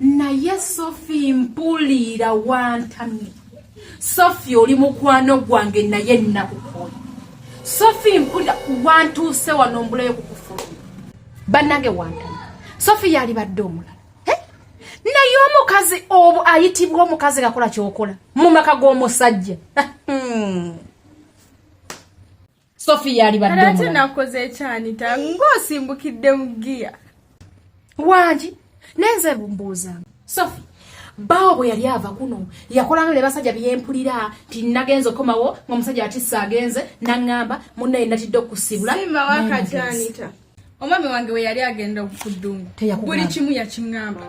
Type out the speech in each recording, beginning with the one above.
naye sofi mpuliira wantamye sofi oli mukwano gwange naye nakukola sofi mpulira wantuuse wano mbulayo kukufuluma bannange wantana sofi yalibadde omulala naye omukazi obu ayitibwa omukazi ngakola kyokola mu maka g'omusajja hmm. sofi yalibaddeate nakoze ekyanita ng'osimbukidde mu giya wangi naye nze mbuuza sofi baawo bwe yali ava kuno yakolano ne basajja byempulira nti nagenza okomawo ngaomusajja atisa agenze naŋŋamba munnaye natidde okusiibula omwami wange we yali agenda okuddungu buli kimu yakiŋŋamba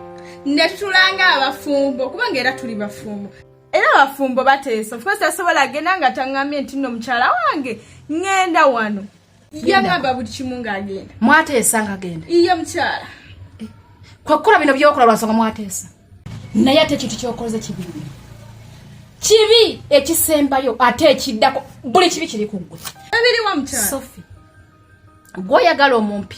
netutulanga abafumbo kubanga era tuli bafumbo era abafumbo bateesa ofcourse asobola agenda nga taŋŋambye nti nno mukyala wange ŋŋenda wano yagamba buli kimu ng'agenda mwateesa ng'agenda iye mukyala eh, kwekkola bino byokola lwansonga mwateesa naye ate ekintu kyokoze kibi kibi ekisembayo ate ekiddako buli kibi kiri ku ggwe ebiriwa mukyala sofi gwoyagala omumpi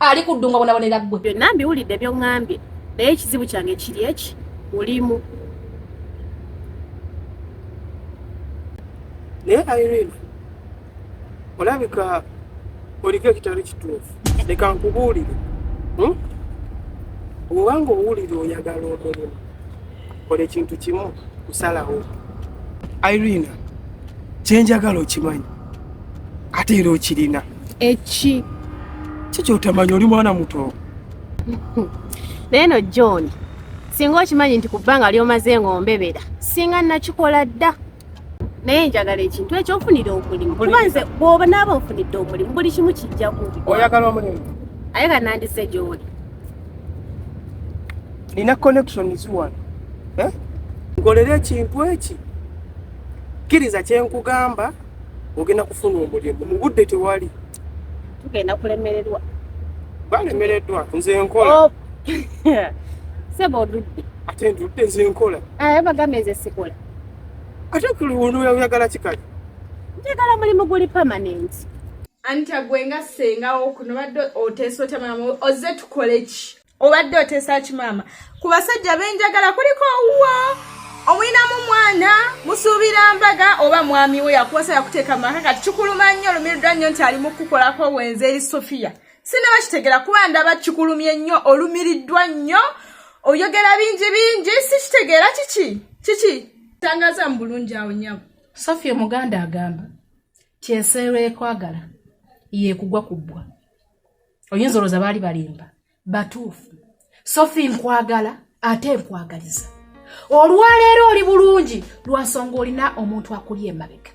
ali ku ddunga bonabonera ggwe byonna mbiwulidde byoŋŋambye naye ekizibu kyange kiri eki mulimu naye irene olabika oliko ekitali kituufu leka nkubuulire hmm? obanga owulire oyagala omulimu kola ekintu kimu kusalawo irene kyenjagala okimanyi ate era okirina eki kikyotamanya oli mwana muto naye no john singa okimanyi nti ku bbanga lyomaze ngaombebera singa nakikola dda naye njagala ekintu ekyo nfunire omulimu kuba nze bwoba naaba nfunidde omulimu buli kimu kijja kubi oyagala omulimu aye ka nandise gyoli nina connection ziwano eh? ngolera ekintu eki kkiriza kyenkugamba ogenda kufuna omulimu mu budde tewali tugenda kulemererwa balemereddwa nze nkola oh. sebo odudde ate ndudde nze nkola eh, bagambye nze sikola ate kuluyagala kikali njagala mulimu guli permanent anti agwe nga sengawo kuno badde oteesa otya mulamu ozze tukole ki obadde oteesa ki maama ku basajja benjagala kuliko owuwo omulinamu mwana musuubira mbaga oba mwami we yakuwasa yakuteeka mu maka kati kikuluma nnyo olumirirwa nnyo nti ali mu kukukolako wenze eri sofiya sinabakitegera kuba ndaba kikulumye nnyo olumiriddwa nnyo oyogera bingi bingi sikitegeera kiki kiki tangaza mu bulungi awo nyabo sofiya omuganda agamba kyenseerwa ekwagala yeekugwa ku bbwa oyinza olowooza baali balimba batuufu sofi nkwagala ate nkwagaliza olwaleero oli bulungi lwansonga olina omuntu akuli emabega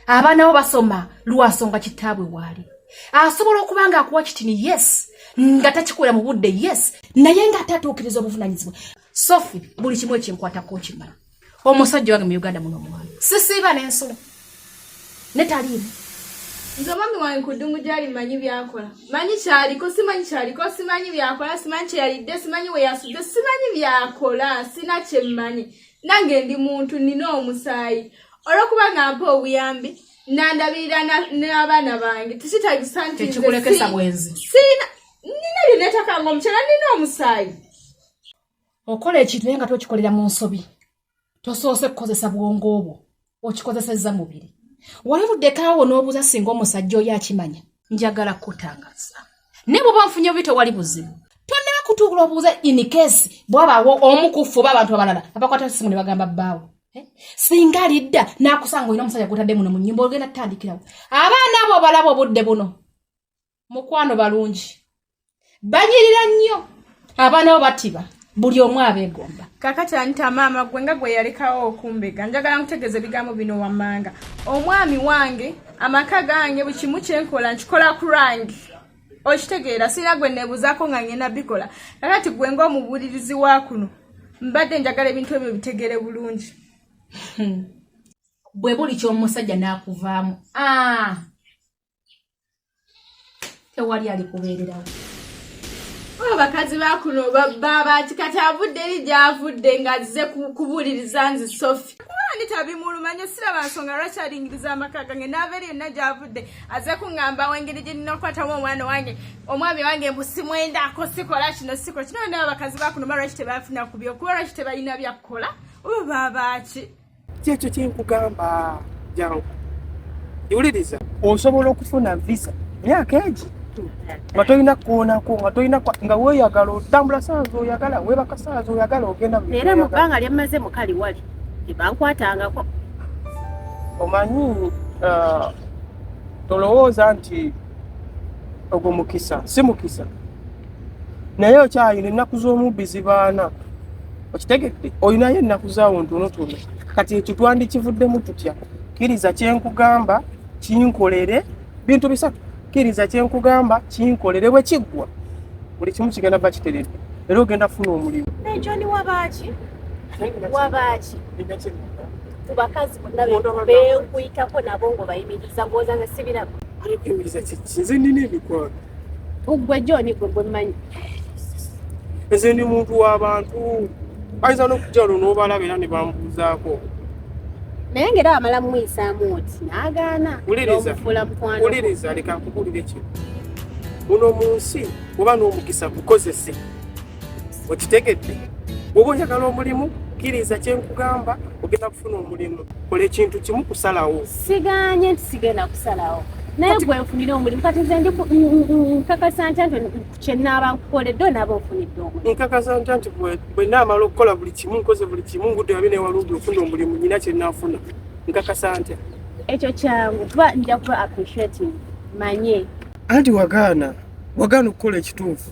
abaana bo basoma lwansonga kitaabwe waali asobola okuba nga akuwa kitini yes nga takikolera mu budde yes naye nga ate atuukiriza obuvunanyizibwa sofi buli kimu ekinkwatako nkimala omusajja wange mu uganda muno omwana sisiiba n'ensula ne taliimu nze omwami wange nkudungu gyali manyi byakola manyi kyaliko simanyi kyaliko simanyi byakola simanyi kyeyalidde simanyi weyasudde simanyi byakola sina kyemmanyi nange ndi muntu nina omusaayi olwokuba nga mpa obuyambi nandabirira n'abaana bange tekitagisa nti nina lyenetakanga omukyala nina omusaayi okola ekintu naye nga tokikolera mu nsobi tosoose kukozesa bwongo obwo okikozesezza mubiri wali luddekaawo n'obuuza singa omusajja oyo akimanya njagala kukutangaza naye bwoba nfunye obi tewali buzibu tonnaba kutuula obuuza inikesi bwabaawo omu kuffe oba abantu abalala abakwata essimu ne bagamba bbaawo eh? singa alidda n'akusanga olina omusajja gwotadde muno mu nnyumba ogenda tutandikirawo abaana abo obalaba obudde buno mukwano balungi banyirira nnyo abaana bo batiba buli omu abegomba kakati anita maama gwe nga gwe yalekawo okumbega njagala nkutegeeza ebigambo bino wammanga omwami wange amaka gange buli kimu kyenkola nkikola ku lwange okitegeera sirina gwe nebuzaako nga ngenda bikola kakati gwe ngaomubuulirizi wa kuno mbadde njagala ebintu ebyo bitegere bulungi hmm. bwe buli kyomusajja n'akuvaamu ah! tewali alikubeererawo abakazi bakuno babati kati avudde eri gyavudde nga azze kubuuliriza nzi sofi kubandi tabimulumanyo siraba nsonga lwaki alingiriza amaka gange naava eri yonna gyavudde azze kuŋŋamba wengeri gye nina okukwatamu omwana wange omwami wange mbu simwendako sikola kino sikola kino naba abakazi bakuno ba lwaki tebafuna kubyo kuba lwaki tebalina byakukola oba babaaki kyekyo kyenkugamba jangu iwuliriza osobola okufuna visa myaka egi nga tolina kukoonako nga tolina nga weyagala otambula saazi oyagala webaka saazi oyagala ogenda era mu bbanga lyemmaze mukali wali tebankwatangako omanyi uh, tolowooza nti ogwo mukisa si mukisa naye okyayina ennaku z'omubbi zibaana okitegedde olinayo ennaku zaawo ntonotono kati ekyo twandikivuddemu tutya kkiriza kyenkugamba kinkolere bintu bisatu kkiriza kyenkugamba kinkolere bwe kiggwa buli kimu kigenda ba kiteredde era ogenda kufuna omulimu nejoni wabaaki wabaaki ku bakazi bonna benkuyitako nabo ngaobayimiriza ngooza nze sibiraba nze nina emikwano uggwe joni gwe gwe mmanyi nze ndi muntu w'abantu ayinza n'okujja olwo n'obalaba era ne bambuuzaako naye ngaera wamala mumuyisaamu oti n'agaana omufuula mukwano wuliriza leka nkubuulire kino muno mu nsi oba n'omukisa gukozese okitegedde bwoba oyagala omulimu kkiriza kyenkugamba ogenda kufuna omulimu kola ekintu kimu kusalawo siganye nti sigenda kusalawo naye gwe nfunire omulimu kati nze ndi nkakasa ntya nti kyenaaba nkukoledde onaaba ofunidde omulimu nkakasa ntya nti bwenaamala okukola buli kimu nkoze buli kimu ngudde abe newalungi ofuna omulimu nyina kyenaafuna nkakasa ntya ekyo kyangu kuba nja kuba appreciating manye anti wagaana wagaana okukola ekituufu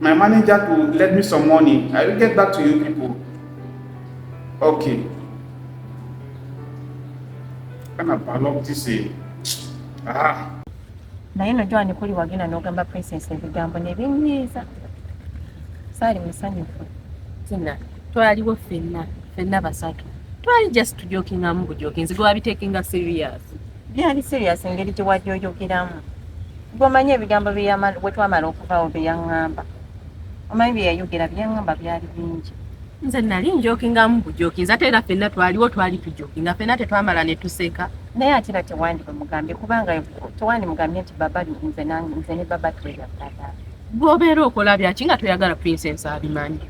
My manager to lend me some money. I will get back to you people. Okay. Kana balok tise. Ah. naye no jwani kuli wagenda n'ogamba princess ebigambo nebinyiiza saali musanyufu tina twaliwo fenna fenna basatu twali just tujokingamu bujokinzi gwabitekinga serious Byali serious engeri gye wali oyogeramu. Gwe omanyi ebigambo bwe twamala okuvaawo bye yaŋŋamba. Omanyi bye yayogera bye yaŋŋamba byali bingi. Nze nali njokingamu bujokinzi ate era fenna twaliwo twali tujokinga fenna tetwamala ne tuseka. Naye ate era tewandi bamugambye kubanga tewandi mugambye nti baba nze ne baba tweyagala. Bw'obeera okola byaki nga toyagala Princess abimanyi.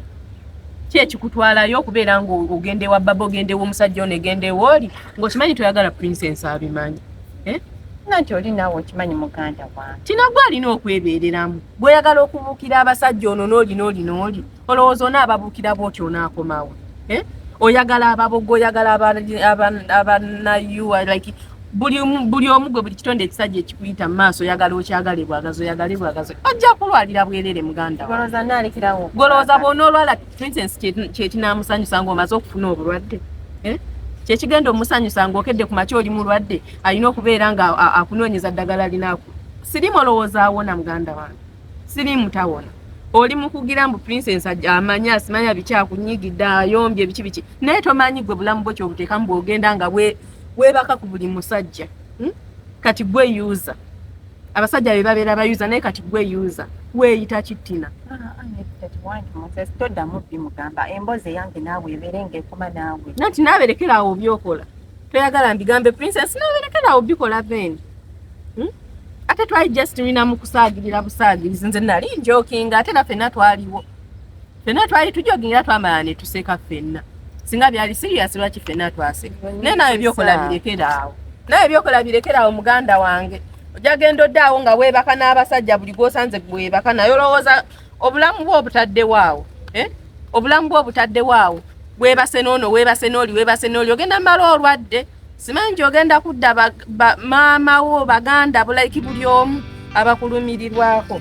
Ki ekikutwalayo okubeera ng'ogenda ewa baba ogenda ew'omusajja ono egenda ewooli ng'okimanyi toyagala princess abimanyi eh? nga nti oli naawe okimanyi muganda wange kino gwe alina okwebeereramu bweoyagala okubuukira abasajja ono n'olina oli n'oli olowooza onaababuukira bwoti onaakomawo eh? oyagala ababogo oyagala abanayu like buli omu gwe buli kitonde ekisajja ekikuyita mu maaso oyagala okyagale bwagazi oyagale bwagazi ojja kulwalira bwerere muganda golowooza bwonaolwala princess kyekinaamusanyusa ngaomaze okufuna obulwadde eh? kyekigenda omusanyusa ngaokedde ku makya oli mulwadde alina okubeera nga akunoonyeza ddagala linaku sirimu olowooza awona muganda wange sirimu tawona oli mukugira mbu princess amanya asimanya biki akunyigidde ayombye biki biki naye tomanyi gwe bulamu bwo kyobuteeka mbu ogenda nga webaka ku buli musajja hmm? kati gwe user abasajja be babeera ba user naye kati gwe user weeyita kittina toddamu bimugamba emboozi eyange naawe ebeere ngaekuma naawe nati naaberekera awo byokola toyagala mbigambe princess naaberekera awo bikola then hmm? ate twali just lina mu kusaagirira busaagirizi nze nali njokinga ate naffe na twaliwo fena twali tujogingira twamala ne tuseka fenna singa byali serious lwaki fena twaseka naye nawe byokola birekera awo nawe byokola birekera awo muganda wange ojagenda oddaawo nga weebaka n'abasajja buli gwosanze gwebaka naye olowooza obulamu bwe obutaddewo awo eh? obulamu bwe obutaddewo awo webase noono webase nooli webase nooli ogenda mala olwadde simanyi nti ogenda kudda maama wo baganda bulaiki buli omu abakulumirirwako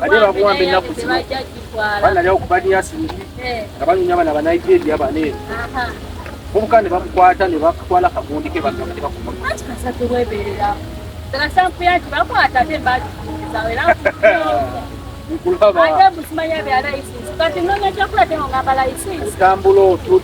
bade bakuwamba ennaku zino banalyawo ku baniyasingi eh. nga banyumya abana banigeria bane obuka ne bamukwata ne bakutwala kagundi ke bagamba ne bakumakulaba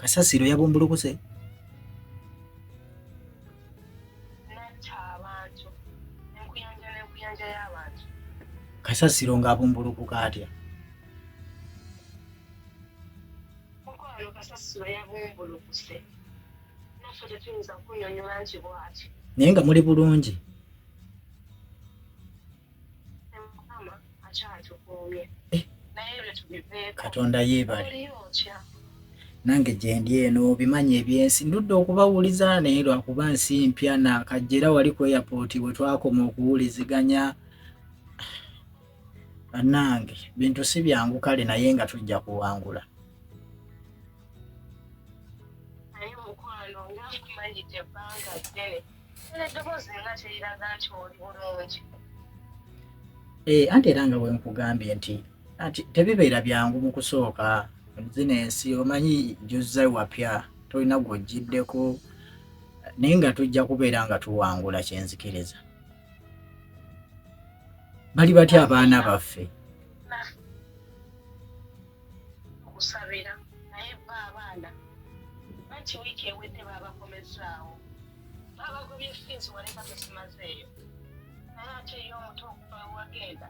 kasasiro yabumbulukuse kasasiro ng'abumbulukuka atya naye nga muli bulungi katonda yeebale nange gyendi eno obimanyi ebyensi ndudde okubawuliza naye lwakuba nsi mpya nakajja era wali ku airport bwe twakoma okuwuliziganya bannange bintu si byangu kale naye nga tujja kuwangula Eh, anti era nga bwenkugambye nti anti tebibeera byangu mu kusooka zino ensi omanyi juzza wapya tolina gwojjiddeko naye nga tujja kubeera nga tuwangula kyenzikiriza bali batya abaana baffe okusabira naye ba abaana banti wiiki ewedde baabakomezaawo baabagobye fiizi waleka tosimazeeyo naye ate eyo omuto okuva wewagenda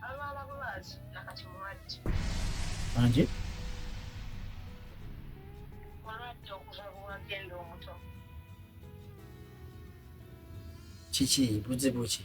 alwala bulwazi nakati mulwadde anje mulwadde okuva bwewagenda omuto kiki buzibu ki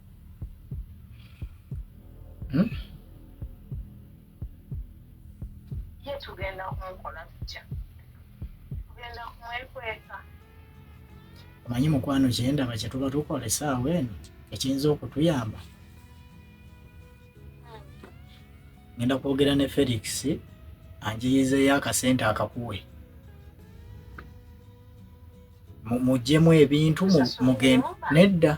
hmm? ye tugenda kumukola tutya tugenda kumwekweka omanyi mukwano kyendaba kyetuba tukola esaawa eno ekiyinza okutuyamba hmm. ngenda kwogera ne felix anjiyizeeyo akasente akakuwe mujjemu ebintu mugende nedda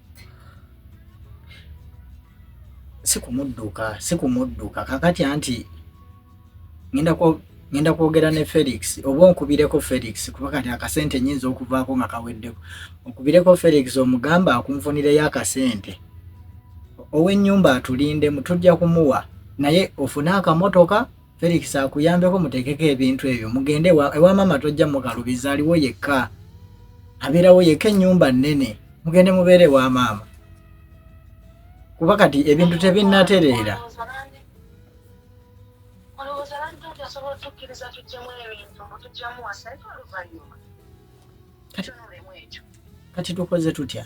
sikumudduka sikumudduka kakati anti ngenda kwogera ne felix oba onkubireko felix kuba kati akasente nyinza okuvaako nga kaweddeko onkubireko felix omugamba akunfunireyo akasente ow'ennyumba atulindemu tujja kumuwa naye ofune akamotoka Felix akuyambeko mutekeko ebintu ebyo mugende ewa mama tojja mukalubiza aliwo yekka abeerawo yekka ennyumba nnene mugende mubeere ewa maama kuba kati ebintu tebinnatereera kati tukoze tutya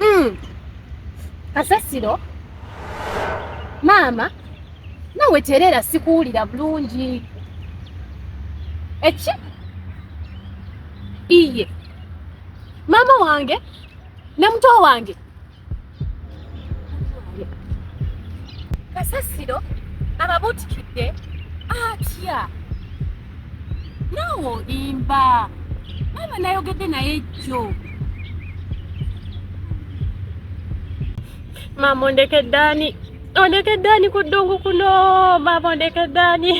Mm. Kasasiro maama nawe tereera sikuwulira bulungi eki iye maama wange ne muto wange kasasiro ababutikidde atya naawe olimba maama nayogedde naye jjo maama ondeke ddaani ondeke ddaani ku ddungu kuno maama ondeke ddaani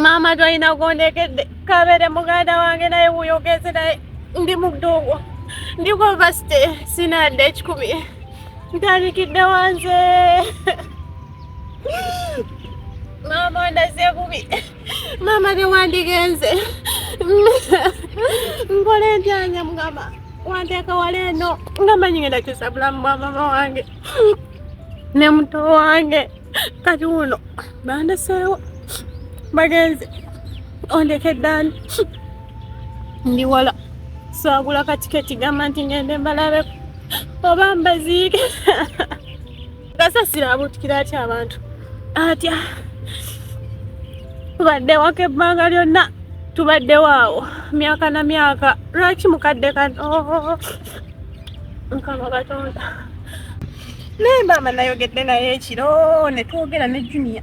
maama tolina gondekedde kabeere muganda wange naye wuyogeze naye ndi mu ddungu ndi ku vasti sinadde ekikumi ntandikidde wanze maama ondaze bubi maama newandigenze nkola endyanya mugamba wanteeka wala eno nga manyi ngenda kyusa bulamu bwa maama wange ne muto wange kati wuno bandeseewo bagenze ondekeddani ndi wala saagula katiketi gamba nti ngende mbalabe oba mbaziike kasasira abutukira atya abantu atya tubadde waka ebbanga lyonna tubaddewo awo myaka na myaka lwaki mukadde kano oh, mukama katonda naye maama nayogedde naye ekiro netwogera ne junia